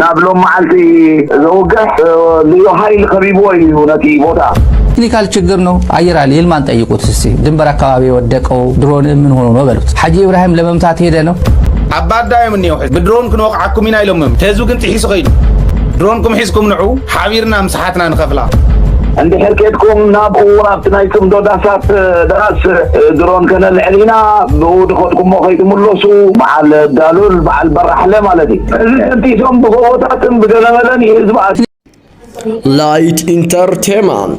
ናብ ሎም መዓልቲ ዘውግሕ ልዩ ሃይል ከቢብዎ እዩ ነቲ ቦታ። ቴክኒካል ችግር ነው አየር ኃይል ይልማን ጠይቁት እስቲ ድንበር አካባቢ የወደቀው ድሮን ምን ሆኖ ነው በሉት። ሐጂ ኢብራሂም ለመምታት ሄደ ነው ኣባዳዮም እኒኦ ብድሮን ክንወቕዓኩም ኢና ኢሎምም ተዙ ግን ጥሒሱ ከይዱ ድሮንኩም ሒዝኩም ንዑ ሓቢርና ምስ ንሓትና ንኸፍላ። እንድሕር ኬድኩም ናብኡ ናብቲ ናይ ጽምዶ ዳሳት ዳስ ድሮን ከነልዕል ኢና ብኡ ድኸድኩሞ ከይትምለሱ በዓል ዳሉል በዓል በራሕለ ማለት እዩ እዚ ሰንቲሶም ብጎቦታትን ብገለመለን ይህዝባ ላይት ኢንተርቴማንት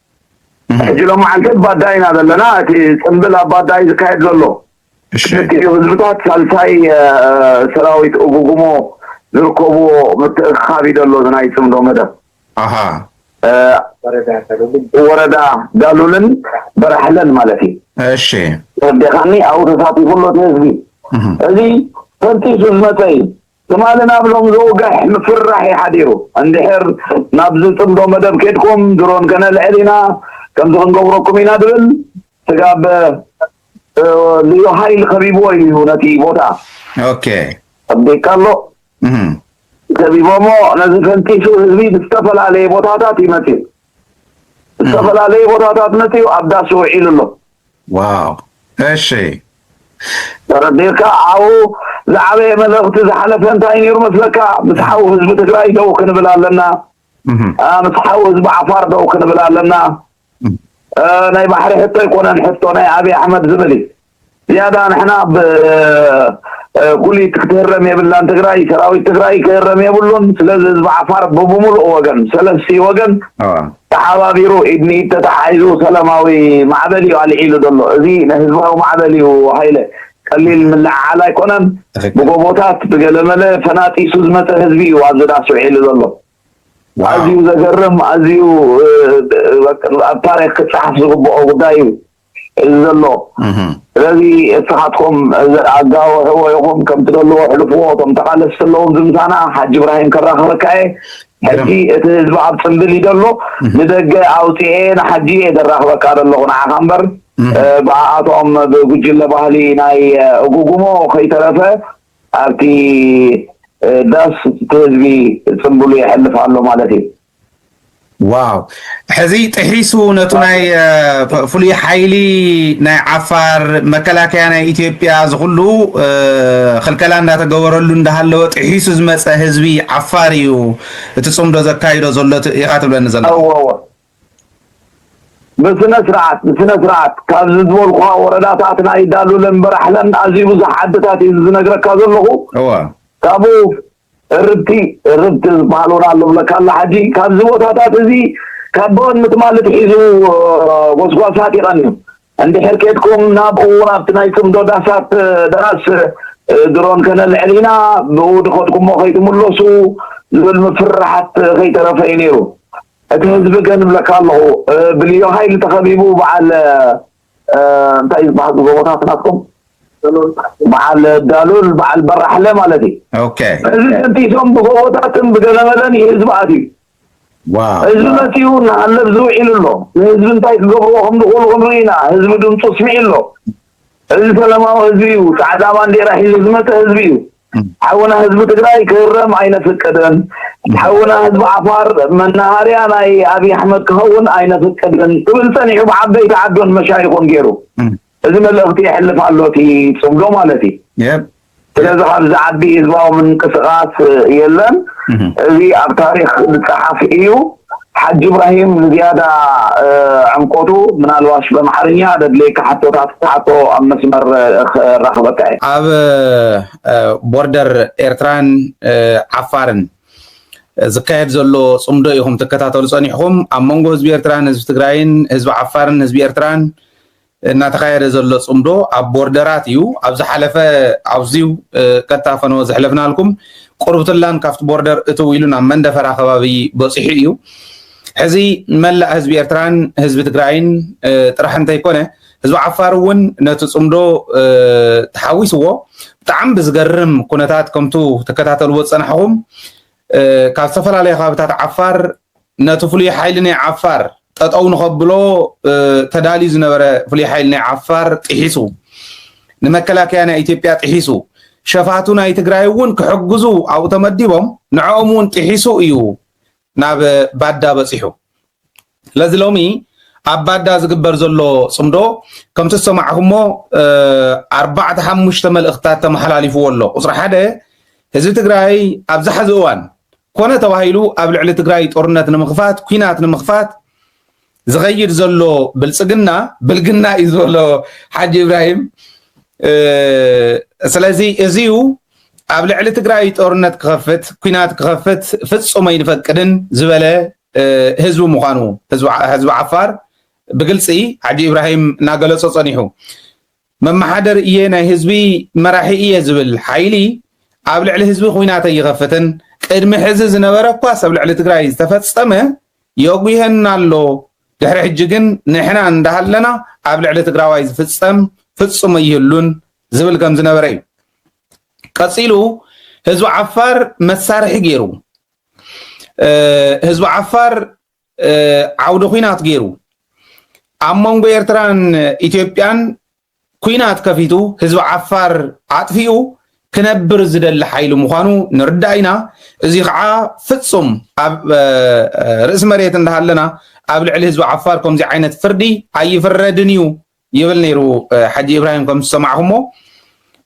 ሕጂ ሎማዓንቲ ኣብ ባዳይ ኢና ዘለና እቲ ጽንብል ኣብ ባዳይ ዝካየድ ዘሎ ክልቲኡ ህዝብታት ሳልሳይ ሰራዊት እጉጉሞ ዝርከብዎ ምትእኽኻብ እዩ ዘሎ እዚ ናይ ጽምዶ መደብ ወረዳ ዳሉልን በራሕለን ማለት እዩ እሺ ተረዲኻኒ ኣብኡ ተሳቲፉ ኣሎ እቲ ህዝቢ እዚ ፈንጢሱ ዝመጸ እዩ ትማሊ ናብ ሎም ዝውግሕ ምፍርራሕ እዩ ሓዲሩ። እንድሕር ናብዚ ጽምዶ መደብ ኬድኩም ድሮን ከነልዕል ኢና፣ ከምዚ ክንገብረኩም ኢና ድብል ስጋብ ልዩ ሃይል ከቢብዎ እዩ ነቲ ቦታ። ኦኬ። ኣቢካ ኣሎ። ከቢቦሞ ነዚ ፈንጢሱ ህዝቢ ብዝተፈላለየ ቦታታት እዩ መጺኡ። ዝተፈላለየ ቦታታት መጺኡ ኣብ ዳሱ ውዒሉ ኣሎ። ዋው እሺ ተረዲእካ ሓው ዝዓበየ መልእኽቲ ዝሓለፈ እንታይ ነይሩ መስለካ ምስ ሓው ህዝቢ ትግራይ ደው ክንብል ኣለና ምስ ሓው ህዝቢ ዓፋር ደው ክንብል ኣለና ናይ ባሕሪ ሕቶ ኣይኮነን ሕቶ ናይ ኣብዪ ኣሕመድ ዝብል እዩ ዝያዳ ንሕና ብጉሊት ክትህረም የብላን ትግራይ ሰራዊት ትግራይ ክህረም የብሉን ስለዚ ህዝቢ ዓፋር ብብምሉእ ወገን ሰለስቲ ወገን ተሓባቢሩ ኢድ ንኢድ ተተሓሒዙ ሰላማዊ ማዕበል እዩ ኣልዒሉ ዘሎ። እዚ ህዝባዊ ማዕበል እዩ ሃይለ። ቀሊል ምልዕዓል ኣይኮነን። ብጎቦታት ብገለመለ ፈናጢሱ ዝመፀ ህዝቢ እዩ ኣብዚ ዳስ ውዒሉ ዘሎ። ኣዝዩ ዘገርም ኣዝዩ ኣብ ታሪኽ ክፀሓፍ ዝግበኦ ጉዳይ እዩ። እዚ ዘሎ ስለዚ እስኻትኩም እዚ ኣጋውሕዎ ኢኹም ከም ትደልዎ ሕልፍዎ እቶም ተቓለስቲ ኣለዉ ኣብዚ ምሳና ሓጂ እብራሂም ከራኽበካ እየ ሕጂ እቲ ህዝቢ ኣብ ጽምብል እዩ ዘሎ ንደገ ኣውጽኤ ንሓጂ እየ ዘራኽበካ ዘለኹ ንዓኻ እምበር ብኣኣቶም ብጉጅለ ባህሊ ናይ እጉጉሞ ከይተረፈ ኣብቲ ዳስ እቲ ህዝቢ ጽምብሉ የሕልፍ ኣሎ ማለት እዩ ዋው ሕዚ ጥሒሱ ነቱ ናይ ፍሉይ ሓይሊ ናይ ዓፋር መከላከያ ናይ ኢትዮጵያ ዝኩሉ ክልከላ እንዳተገበረሉ እንዳሃለወ ጥሒሱ ዝመፀ ህዝቢ ዓፋር እዩ እቲ ፅምዶ ዘካይዶ ዘሎ ኢካ ትብለኒ ዘሎ ብስነ ስርዓት ብስነ ስርዓት ካብዚ ዝበልኩካ ወረዳታት ናይ ዳሉለን በራሕለን ኣዝዩ ብዙሕ ዓድታት እዩ ዝነግረካ ዘለኹ ካብኡ እርብቲ እርብቲ ዝበሃል እውን ኣሎ እብለካ ኣለኹ ሓጂ ካብዚ ቦታታት እዚ ካብ ቦን ምትማል እትሒዙ ጎስጓሳት ይቐንዩ እንድሕር ኬድኩም ናብኡ እውን ኣብቲ ናይ ጽምዶ ዳሳት ዳስ ድሮን ከነልዕል ኢና ብኡ ድኸድኩሞ ከይትምለሱ ዝብል ምፍርራሓት ከይተረፈ እዩ ነይሩ እቲ ህዝቢ ግን እብለካ ኣለኹ ብልዮ ሃይሊ ተኸቢቡ በዓል እንታይ እዩ ዝበሃል እዚ ጎቦታት ናትኩም? በዓል ዳሉል በዓል በራሕለ ማለት እዩ። ኦኬ እዚ ደምሲሶም ብጎቦታትን ብገለመለን እዩ ህዝቢ ኣትዩ። ዋው ህዝቢ መጺኡ እናሃለብ ዝው ኢሉ ኣሎ። ንህዝቢ እንታይ ክገብርዎ ከም ዝኽእሉ ክንርኢ ኢና። ህዝቢ ድምጹ ኣስሚዑ ኣሎ። እዚ ሰለማዊ ህዝቢ እዩ። ጻዕዳ ባንዴራ ሒዙ ዝመጸ ህዝቢ እዩ። ሓውና ህዝቢ ትግራይ ክህረም ኣይነፍቅድን ሓውና ህዝቢ ዓፋር መናሃርያ ናይ ኣብዪ ኣሕመድ ክኸውን ኣይነፍቅድን ክብል ፀኒሑ ብዓበይቲ ዓዱን መሻይኹን ገይሩ እዚ መልእኽቲ የሕልፍ ኣሎ እቲ ፅምዶ ማለት እዩ ስለዚ ካብዚ ዓቢ ህዝባዊ ምንቅስቃስ የለን እዚ ኣብ ታሪክ ዝፀሓፍ እዩ ሓጂ ኢብራሂም ንዝያዳ ዕምቆቱ ምናልባሽ በምሓርኛ ደድልየካ ሕቶታት ክትሓቶ ኣብ መስመር ከራኽበካ እየ። ኣብ ቦርደር ኤርትራን ዓፋርን ዝካየድ ዘሎ ጽምዶ ኢኹም ትከታተሉ ጸኒሕኹም። ኣብ መንጎ ህዝቢ ኤርትራን ህዝቢ ትግራይን፣ ህዝቢ ዓፋርን ህዝቢ ኤርትራን እናተኻየደ ዘሎ ፅምዶ ኣብ ቦርደራት እዩ። ኣብ ዝሓለፈ ኣብዚው ቀጥታ ፈነወ ዘሕለፍናልኩም ቁርብትላን ካብቲ ቦርደር እትው ኢሉ ናብ መንደፈራ ከባቢ በፂሑ እዩ። ሕዚ መላእ ህዝቢ ኤርትራን ህዝቢ ትግራይን ጥራሕ እንተይኮነ ህዝቢ ዓፋር እውን ነቲ ፅምዶ ተሓዊስዎ ብጣዕሚ ብዝገርም ኩነታት ከምቱ ትከታተልዎ ዝፀናሕኹም ካብ ዝተፈላለዩ ከባቢታት ዓፋር ነቲ ፍሉይ ሓይሊ ናይ ዓፋር ጠጠው ንኸብሎ ተዳልዩ ዝነበረ ፍሉይ ሓይሊ ናይ ዓፋር ጥሒሱ ንመከላከያ ናይ ኢትዮጵያ ጥሒሱ ሸፋቱ ናይ ትግራይ እውን ክሕግዙ ኣብኡ ተመዲቦም ንዕኦም እውን ጥሒሱ እዩ ናብ ባዳ በፂሑ ስለዚ ሎሚ ኣብ ባዳ ዝግበር ዘሎ ፅምዶ ከምቲ ዝሰማዕኹሞ ኣርባዕተ ሓሙሽተ መልእኽትታት ተመሓላሊፍዎ ኣሎ ቁፅሪ ሓደ ህዝቢ ትግራይ ኣብዚ ሐዚ እዋን ኮነ ተባሂሉ ኣብ ልዕሊ ትግራይ ጦርነት ንምኽፋት ኩናት ንምኽፋት ዝኸይድ ዘሎ ብልፅግና ብልግና እዩ ዝበሎ ሓጂ ኢብራሂም ስለዚ እዚዩ ኣብ ልዕሊ ትግራይ ጦርነት ክኸፍት ኩናት ክኸፍት ፍፁም ኣይንፈቅድን ዝበለ ህዝቢ ምዃኑ ህዝቢ ዓፋር ብግልፂ ሓጂ ኢብራሂም እናገለፆ ፀኒሑ መመሓደሪ እየ ናይ ህዝቢ መራሒ እየ ዝብል ሓይሊ ኣብ ልዕሊ ህዝቢ ኹናት ኣይኸፍትን ቅድሚ ሕዚ ዝነበረ እኳስ ኣብ ልዕሊ ትግራይ ዝተፈፀመ የጉየና ኣሎ ድሕሪ ሕጂ ግን ንሕና እንዳሃለና ኣብ ልዕሊ ትግራዋይ ዝፍፀም ፍፁም ኣይህሉን ዝብል ከም ዝነበረ እዩ ቀፂሉ ህዝቢ ዓፋር መሳርሒ ገይሩ ህዝቢ ዓፋር ዓውደ ኩናት ገይሩ ኣብ መንጎ ኤርትራን ኢትዮጵያን ኩናት ከፊቱ ህዝቢ ዓፋር ኣጥፊኡ ክነብር ዝደሊ ሓይሊ ምዃኑ ንርዳእ ኢና። እዚ ከዓ ፍጹም ኣብ ርእሲ መሬት እንዳሃለና ኣብ ልዕሊ ህዝቢ ዓፋር ከምዚ ዓይነት ፍርዲ ኣይፍረድን እዩ ይብል ነይሩ ሓጂ ኢብራሂም ከም ዝሰማዕኹሞ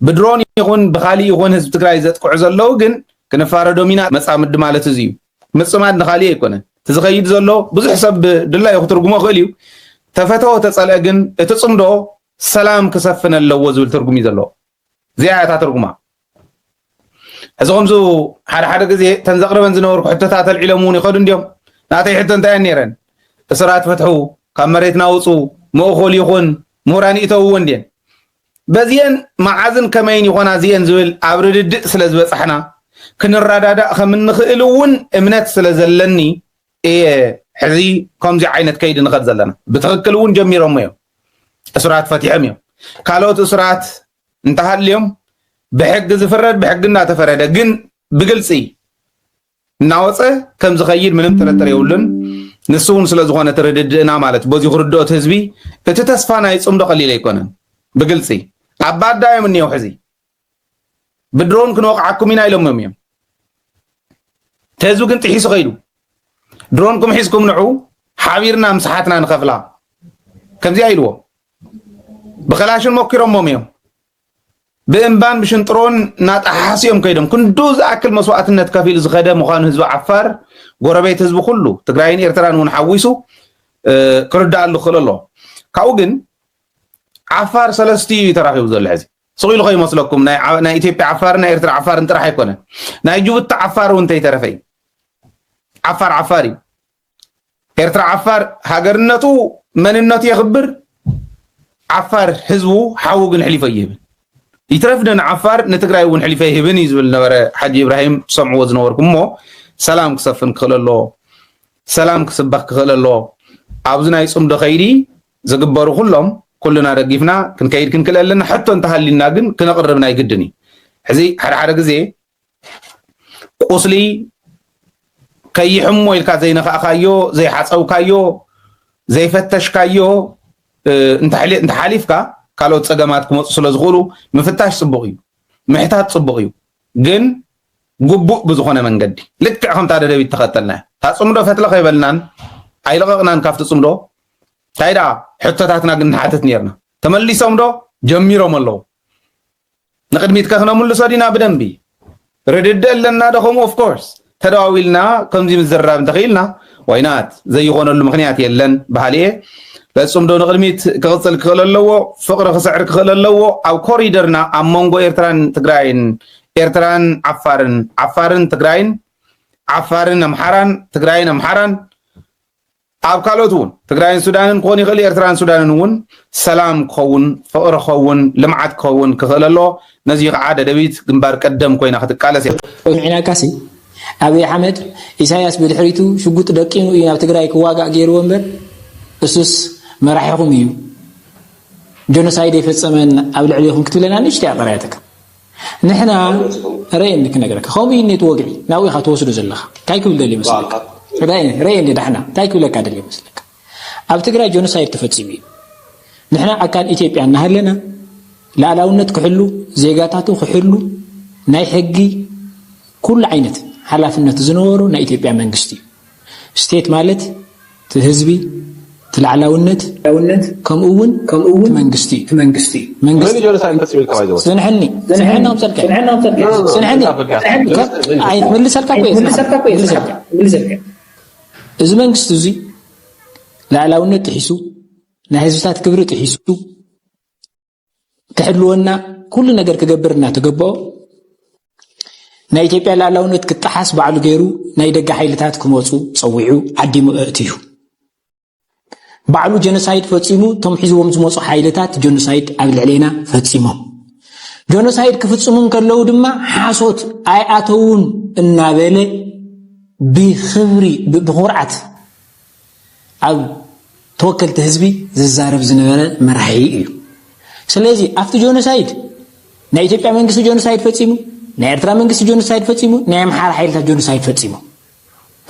ብድሮን ይኹን ብኻሊእ ይኹን ህዝቢ ትግራይ ዘጥቅዑ ዘለዉ ግን ክንፋረዶም ኢና መጻምዲ ማለት እዚ እዩ ምጽማድ ንኻሊእ ኣይኮነን እቲ ዝኸይድ ዘሎ ብዙሕ ሰብ ብድላዩ ክትርጉሞ ይኽእል እዩ ተፈተወ ተጸልአ ግን እቲ ጽምዶ ሰላም ክሰፍን ኣለዎ ዝብል ትርጉም እዩ ዘለዎ እዚኣ እያ እታ ትርጉማ። ሕዚ ከምዚ ሓደ ሓደ ግዜ እተን ዘቕርበን ዝነበርኩ ሕቶታት ኣልዒሎም እውን ይኸዱ እንዲዮም። ናተይ ሕቶ እንታይ እየን ነይረን? እስራት ፍትሑ፣ ካብ መሬትና ውፁ፣ መእኹል ይኹን፣ ምሁራን ይእተውዎ እንዲየን። በዚኤን መዓዝን ከመይን ይኾና እዚኤን ዝብል ኣብ ርድድእ ስለ ዝበፃሕና ክንረዳዳእ ከም እንኽእል እውን እምነት ስለ ዘለኒ እየ ሕዚ ከምዚ ዓይነት ከይዲ ንኸድ ዘለና ብትክክል እውን ጀሚሮሞ እዮም እሱራት ፈቲሖም እዮም ካልኦት እሱራት እንተሃልዮም ብሕጊ ዝፍረድ ብሕጊ እናተፈረደ ግን ብግልፂ እናወፀ ከም ዝኸይድ ምንም ጥርጥር የብሉን። ንሱ እውን ስለዝኾነ እቲ ርድድእና ማለት በዚ ክርድኦት ህዝቢ እቲ ተስፋ ናይ ፅምዶ ቀሊል ኣይኮነን። ብግልፂ ኣብ ባዳ እዮም እኒሄው ሕዚ ብድሮን ክንወቕዓኩም ኢና ኢሎምም እዮም ተህዝቢ ግን ጥሒሱ ከይዱ ድሮንኩም ሒዝኩም ንዑ ሓቢርና ምስ ሓትና ንኸፍላ ከምዚኣ ኢልዎ ብኸላሽን ሞኪሮሞም እዮም ብእምባን ብሽንጥሮን እናጠሓሓሱ እዮም ከይዶም ክንዱ ዝኣክል መስዋእትነት ከፊሉ ዝኸደ ምዃኑ ህዝቢ ዓፋር ጎረቤት ህዝቢ ኩሉ ትግራይን ኤርትራን እውን ሓዊሱ ክርዳኣሉ ክኽእል ኣለዎ ካብኡ ግን ዓፋር ሰለስትኡ እዩ ተራኺቡ ዘሎ ሕዚ ስቕ ኢሉ ከይመስለኩም ናይ ናይ ኢትዮጵያ ዓፋርን ናይ ኤርትራ ዓፋርን ጥራሕ ኣይኮነን ናይ ጅቡቲ ዓፋር እውን እንተይተረፈ እዩ ዓፋር ዓፋር እዩ ኤርትራ ዓፋር ሃገርነቱ መንነቱ የኽብር ዓፋር ህዝቡ ሓዉ ግን ሕሊፎ ይህብን ይትረፍ ደን ዓፋር ንትግራይ እውን ሕሊፈ ይህብን እዩ ዝብል ነበረ ሓጂ ኢብራሂም ትሰምዕዎ ዝነበርኩም እሞ ሰላም ክሰፍን ክኽእል ኣለዎ ሰላም ክስበኽ ክኽእል ኣለዎ ኣብዚ ናይ ፅምዶ ከይዲ ዝግበሩ ኩሎም ኩልና ደጊፍና ክንከይድ ክንክእል ኣለና ሕቶ እንተሃልዩና ግን ክነቕርብ ናይ ግድን እዩ ሕዚ ሓደ ሓደ ግዜ ቁስሊ ከይሕሞ ኢልካ ዘይነካእካዮ ዘይሓፀውካዮ ዘይፈተሽካዮ እንተሓሊፍካ ካልኦት ፀገማት ክመፁ ስለ ዝኽእሉ ምፍታሽ ፅቡቕ እዩ ምሕታት ፅቡቕ እዩ ግን ግቡእ ብዝኾነ መንገዲ ልክዕ ከምታ ደደቢት ተኸተልና እያ እታ ፅምዶ ፈትለ ከይበልናን ኣይለቐቕናን ካብቲ ፅምዶ ታይ ደኣ ሕቶታትና ግን ንሓትት ኔርና ተመሊሶም ዶ ጀሚሮም ኣለዉ ንቅድሚት ከ ክነምልሶ ዲና ብደንቢ ርድድእ ኣለና ዶ ከምኡ ኦፍ ኮርስ ተደዋዊልና ከምዚ ምዝርራብ እንተኽኢልና ዋይናት ዘይኾነሉ ምክንያት የለን በሃሊ እየ ለጹም ዶ ንቅድሚት ክቕጽል ክኽእል ኣለዎ ፍቕሪ ክስዕር ክኽእል ኣለዎ ኣብ ኮሪደርና ኣብ መንጎ ኤርትራን ትግራይን ኤርትራን ዓፋርን ዓፋርን ትግራይን ዓፋርን ኣምሓራን ትግራይን ኣምሓራን ኣብ ካልኦት እውን ትግራይን ሱዳንን ክኾን ይኽእልዩ ኤርትራን ሱዳንን እውን ሰላም ክኸውን ፍቕሪ ክኸውን ልምዓት ክኸውን ክኽእል ኣለዎ ነዙይ ኸዓ ደደቢት ግንባር ቀደም ኮይና ክትቃለስ እያ። ቁንዒናካሲ ኣብይ ኣሕመድ ኢሳያስ ብድሕሪቱ ሽጉጥ ደቂኑ እዩ ናብ ትግራይ ክዋጋእ ገይርዎ እምበር እሱስ መራሒኹም እዩ ጆኖሳይድ የፈፀመን ኣብ ልዕሊኹም ክትብለና ንእሽተይ ኣቐርያትካ ንሕና ረየኒ ክነግረካ ከምኡ እዩ ኔት ወግዒ ናብኡ ኢኻ ትወስዶ ዘለኻ እንታይ ክብል ደልዩ መስለካ ረየኒ ዳሕና እንታይ ክብለካ ደልዩ መስለካ ኣብ ትግራይ ጆኖሳይድ ተፈፂሙ እዩ ንሕና ኣካል ኢትዮጵያ እናሃለና ላእላውነት ክሕሉ ዜጋታቱ ክሕሉ ናይ ሕጊ ኩሉ ዓይነት ሓላፍነት ዝነበሮ ናይ ኢትዮጵያ መንግስቲ እዩ ስቴት ማለት እቲ ህዝቢ፣ እቲ ላዕላውነት፣ ከምኡ እውን እቲ መንግስቲ እዩ። መንግስቲ ፅንሐኒ ፅንሐኒ ኣምፀልካዮ ፅንሐኒ ኣይትምልሰልካ እኮ እየ ዝብለካ። እዚ መንግስቲ እዙይ ላዕላውነት ጥሒሱ፣ ናይ ህዝብታት ክብሪ ጥሒሱ፣ ክሕልወና ኩሉ ነገር ክገብር እናተገበኦ ናይ ኢትዮጵያ ላዕላውነት ክጠሓስ ባዕሉ ገይሩ ናይ ደገ ሓይልታት ክመፁ ፀዊዑ ዓዲሙ ኣእትዩ ባዕሉ ጀኖሳይድ ፈፂሙ እቶም ሒዝዎም ዝመፁ ሓይልታት ጀኖሳይድ ኣብ ልዕሌና ፈፂሞም ጀኖሳይድ ክፍፅሙ እንከለዉ ድማ ሓሶት ኣይኣተውን እናበለ ብክብሪ ብኩርዓት ኣብ ተወከልቲ ህዝቢ ዝዛረብ ዝነበረ መራሒ እዩ ስለዚ ኣብቲ ጆኖሳይድ ናይ ኢትዮጵያ መንግስቲ ጆኖሳይድ ፈፂሙ ናይ ኤርትራ መንግስቲ ጆኖሳይድ ፈፂሙ ናይ ኣምሓራ ሓይልታት ጆኖሳይድ ፈፂሙ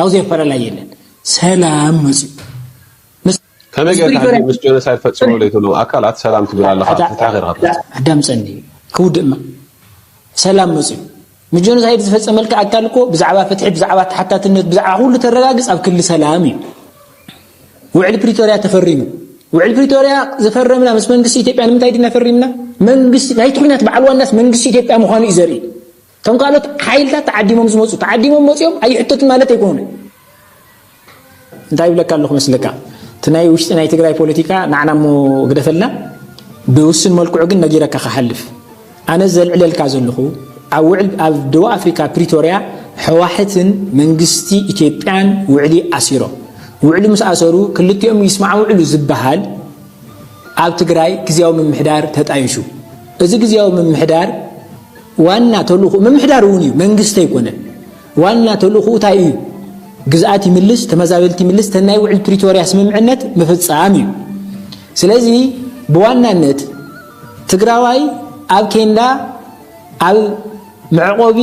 ኣብዚ ኣፈላላይ የለን ሰላም መፅኡ ከመይ ጌርካ ምስ ጆኖሳይድ ፈፂሙ ለይትብሎም ኣካላት ሰላም ትብል ኣለካ ፍትሒ ጌርካ ኣዳምፀኒ ክውድእማ ሰላም መፅኡ ንጆኖሳይድ ዝፈጸመልካ ኣካል እኮ ብዛዕባ ፍትሒ ብዛዕባ ተሓታትነት ብዛዕባ ኩሉ ተረጋግጽ ኣብ ክሊ ሰላም እዩ ውዕል ፕሪቶርያ ተፈሪሙ ውዕል ፕሪቶርያ ዝፈረምና ምስ መንግስቲ ኢትዮጵያ ንምንታይ ድና ፈሪምና መንግስቲ ናይቲ ኩናት በዓል ዋናስ መንግስቲ ኢትዮጵያ ምዃኑ እዩ ዘርኢ እቶም ካልኦት ሓይልታት ተዓዲሞም ዝመፁ ተዓዲሞም መፅኦም ኣይሕተቱን ማለት ኣይኮነ እንታይ ይብለካ ኣለኹ መስለካ እቲ ናይ ውሽጢ ናይ ትግራይ ፖለቲካ ናዕና እሞ ግደፈልና ብውስን መልክዑ ግን ነጊረካ ክሓልፍ ኣነ ዘልዕለልካ ዘለኹ ኣብ ውዕል ኣብ ደቡብ ኣፍሪካ ፕሪቶርያ ሕዋሕትን መንግስቲ ኢትዮጵያን ውዕሊ ኣሲሮም ውዕሊ ምስ ኣሰሩ ክልቲኦም ይስማዕውዕሉ ዝበሃል ኣብ ትግራይ ግዜያዊ ምምሕዳር ተጣይሹ እዚ ግዜያዊ ምምሕዳር ዋና ተልእኹ ምምሕዳር እውን እዩ መንግስቲ ኣይኮነን ዋና ተልእኹኡ ታይ እዩ? ግዝኣት ይምልስ፣ ተመዛበልቲ ይምልስ፣ እተን ናይ ውዕል ፕሪቶርያ ስምምዕነት ምፍፃም እዩ። ስለዚ ብዋናነት ትግራዋይ ኣብ ኬንዳ ኣብ መዕቆቢ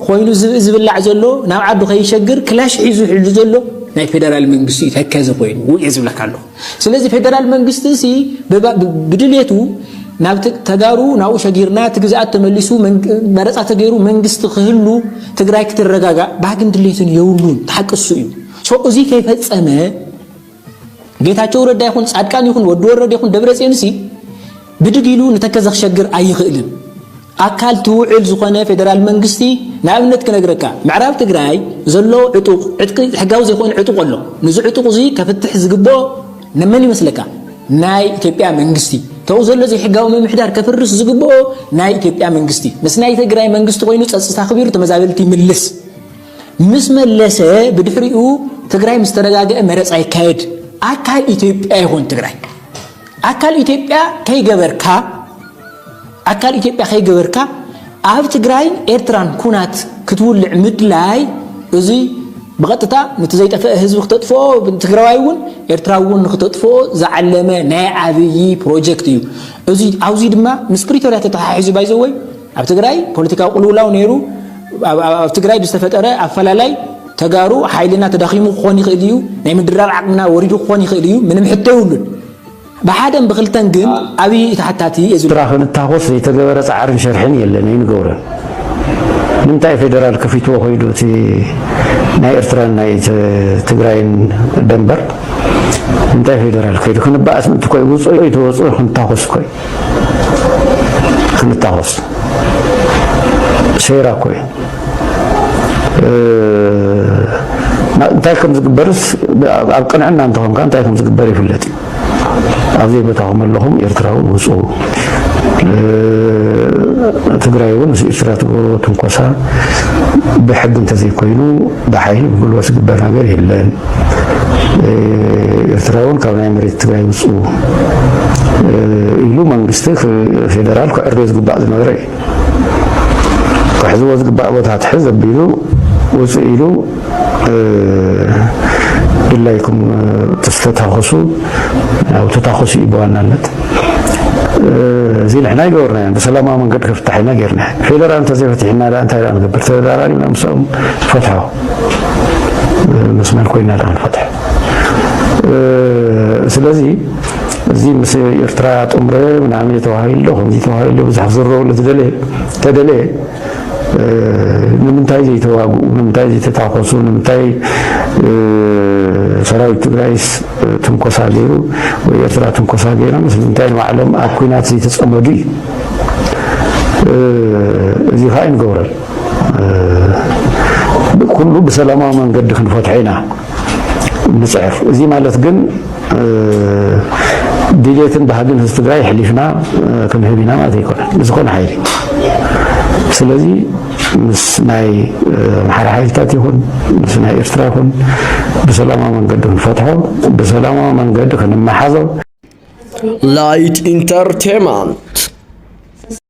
ኾይኑ ዝብኢ ዝብላዕ ዘሎ ናብ ዓዱ ከይሸግር ክላሽ ሒዙ ሕሉ ዘሎ ናይ ፌደራል መንግስቲ እዩ ተከዚ ኮይኑ ውየ ዝብለካ ኣለኹ። ስለዚ ፌደራል መንግስቲ ሲ ብድሌቱ ናብ ተጋሩ ናብኡ ሸጊርና እቲ ግዝኣት ተመሊሱ መረፃ ተገይሩ መንግስቲ ክህሉ ትግራይ ክትረጋጋእ ባህግን ድሌትን የብሉን ተሓቅሱ እዩ ሶ እዚ ከይፈፀመ ጌታቸው ረዳ ይኹን ፃድቃን ይኹን ወዲ ወረድ ይኹን ደብረ ፅዮንሲ ብድግ ኢሉ ንተከዘ ክሸግር ኣይኽእልን ኣካል ትውዕል ዝኾነ ፌደራል መንግስቲ ንኣብነት ክነግረካ ምዕራብ ትግራይ ዘሎ ዕጡቕ ዕጥቂ ሕጋዊ ዘይኮነ ዕጡቕ ኣሎ ንዚ ዕጡቕ እዙይ ከፍትሕ ዝግብኦ ንመን ይመስለካ ናይ ኢትዮጵያ መንግስቲ ተው ዘሎ ዘይሕጋዊ ምምሕዳር ከፍርስ ዝግብኦ ናይ ኢትዮጵያ መንግስቲ ምስ ናይ ትግራይ መንግስቲ ኮይኑ ፀፅታ ኣኽቢሩ ተመዛበልቲ ይምልስ ምስ መለሰ ብድሕሪኡ ትግራይ ምስ ተረጋገአ መረፃ ይካየድ ኣካል ኢትዮጵያ ይኾን ትግራይ ኣካል ኢትዮጵያ ከይገበርካ ኣካል ኢትዮጵያ ከይገበርካ ኣብ ትግራይን ኤርትራን ኩናት ክትውልዕ ምድላይ እዙይ ብቐጥታ ንቲ ዘይጠፈአ ህዝቢ ክተጥፍኦ ትግራዋይ እውን ኤርትራዊ እውን ንክተጥፍኦ ዝዓለመ ናይ ዓብዪ ፕሮጀክት እዩ እዚ ኣብዚ ድማ ምስ ፕሪቶርያ ተተሓሒዙ ባይዘወይ ኣብ ትግራይ ፖለቲካዊ ቅልውላው ነይሩ። ኣብ ትግራይ ብዝተፈጠረ ኣፈላላይ ተጋሩ ሓይልና ተዳኺሙ ክኾን ይኽእል እዩ፣ ናይ ምድራብ ዓቕምና ወሪዱ ክኾን ይኽእል እዩ፣ ምንም ሕቶ የብሉን። ብሓደን ብክልተን ግን ኣብይ እቲ ሓታቲ እዩ። ኤርትራ ክንታኾስ ዘይተገበረ ጻዕርን ሸርሕን የለን ኣይንገብሮን። ንምንታይ ፌደራል ከፊትዎ ኮይዱ እቲ ናይ ኤርትራን ናይ ትግራይን ደንበር እንታይ ፌደራል ከይዱ ክንባእስ ምእንቲ ኮይ ውፅኦ ይተወፅኦ ክንታኾስ ኮይ ክንታኾስ ሴራ እኮ እዩ እንታይ ከም ዝግበርስ ኣብ ቅንዕና እንተኾንካ እንታይ ከም ዝግበር ይፍለጥ እዩ ኣብ ዘይቦታኹም ኣለኹም ኤርትራዊ ውፁ ትግራይ እውን ምስ ኤርትራ ትገብርዎ ትንኮሳ ብሕጊ እንተዘይኮይኑ ብሓይሊ ብጉልበት ዝግበር ነገር የለን። ኤርትራውን ካብ ናይ መሬት ትግራይ ውፅኡ ኢሉ መንግስቲ ፌደራል ክዕርዮ ዝግባእ ዝነበረ እዩ። ክሕዝዎ ዝግባእ ቦታ ትሕዝ ኣቢሉ ውፅ ኢሉ ድላይኩም ተስተታኸሱ ያው ተታኸሱ እዩ ብዋናነት እዚ ንሕና ይገበርናዮ ብሰላማዊ መንገዲ ከፍታሕ ኢና ጌርና ፌደራል እንተዘይፈቲሕና እንታይ ንገብር ተደራራቢና ምስኦም ትፈትሖ ምስ መን ኮይና ደኣ ንፈትሖ ስለዚ እዚ ምስ ኤርትራ ጥምረ ምናምን ተባሂሉ ከምዚ ተባሂሉ ብዙሕ ክዝረቡ ለዝደለየ ተደለየ ንምንታይ ዘይተዋግኡ ንምንታይ ዘይተታኮሱ ንምንታይ ሰራዊት ትግራይስ ትንኮሳ ገይሩ ወይ ኤርትራ ትንኮሳ ገይራ ምስ ምንታይ ንባዕሎም ኣብ ኩናት ዘይተፀመዱ እዩ እዚ ከዓ ይንገብረል ኩሉ ብሰላማዊ መንገዲ ክንፈትሖ ኢና ንፅዕር። እዚ ማለት ግን ድሌትን ባህግን ህዝቢ ትግራይ ሕሊፍና ክንህብ ኢና ማለት ኣይኮነን ንዝኾነ ሓይሊ። ስለዚ ምስ ናይ ኣምሓራ ሓይልታት ይኹን ምስ ናይ ኤርትራ ይኹን ብሰላማዊ መንገዲ ክንፈትሖ ብሰላማዊ መንገዲ ክንመሓዞ ላይት ኢንተርቴንመንት